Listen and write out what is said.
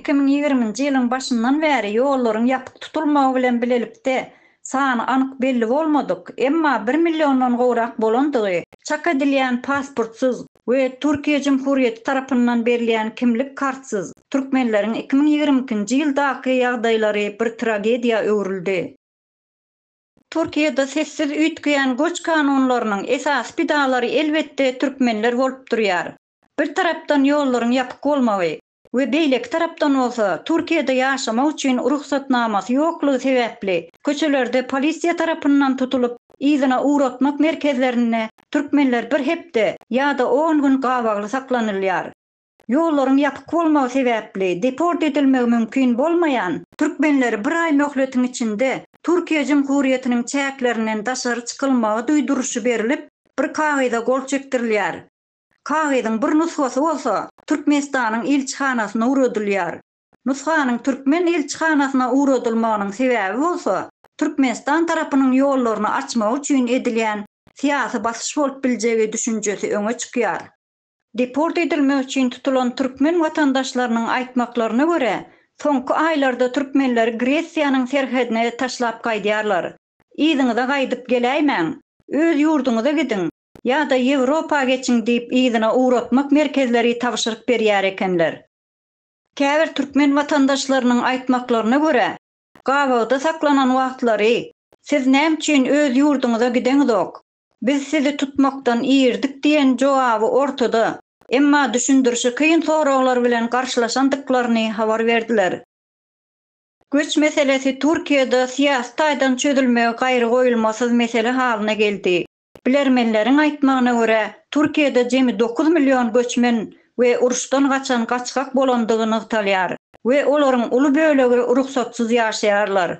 Iki müň ýigriminji ýylyň başyndan bäri ýollaryň ýapyk tutulmagy bilen bilelikde sany anyk belli bolmadyk, emma bir milliondan gowrak bolandygy çak edilýän pasportsyz we Türkiýe Jumhurýeti tarapyndan berilýän kimlik kartsyz türkmenleriň iki müň ýigrimi ikinji ýyldaky ýagdaýlary bir tragediýa öwrüldi. Türkiýede sessiz üýtgeýän göç kanunlarynyň esasy pidalary elbetde türkmenler bolup durýar. Bir tarapdan ýollaryň ýapyk bolmagy we beýleki tarapdan bolsa Türkiýede ýaşamak üçin rugsatnamasy ýoklugy sebäpli köçelerde polisiýa tarapyndan tutulyp yzyna ugratmak merkezlerinde türkmenler bir hepde ýa-da on gün gabagly saklanylýar. Ýollaryň ýapyk bolmagy sebäpli deport edilmegi mümkin bolmaýan türkmenleri bir aý möhletiň içinde Türkiýe Jumhuriýetiniň çäklerinden daşary çykylmagy duýduryşy berilip, bir kagyza gol çekdirilýär. Kagyzyň bir nusgasy bolsa Türkmenistanyň ilçihanasyna ugradylýar. Nusganyň türkmen ilçihanasyna ugradylmagynyň sebäbi bolsa Türkmenistan tarapynyň ýollaryny açmagy üçin edilýän syýasy basyş bolup biljegi düşünjesi öňe çykýar. Deport edilmek üçin tutulan türkmen watandaşlarynyň aýtmaklaryna görä, soňky aýlarda türkmenleri Gresiýanyň serhedine taşlap gaýdýarlar. Yzyňyza gaýdyp geläýmäň, öz ýurduňyza gidiň ýa-da Ýewropa geçiň diýip yzyna ugratmak merkezleri tabşyryk berýär ekenler. Käbir türkmen watandaşlarynyň aýtmaklaryna görä, gabawda saklanan wagtlary, Siz näme üçin öz ýurduňyza gideňizok? Biz sizi tutmakdan irdik diýen jogaby ortada, emma düşündirişi kyn soraglar bilen garşylaşandyklaryny habar berdiler. Göç meselesi Türkiýede syýasy taýdan çözülmegi gaýrygoýulmasyz mesele halyna geldi. Bilermenleriň aýtmagyna görä, Türkiýede jemi dokuz million göçmen we uruşdan gaçan gaçgak bolandygy nygtalýar we olaryň uly bölegi rugsatsyz ýaşaýarlar.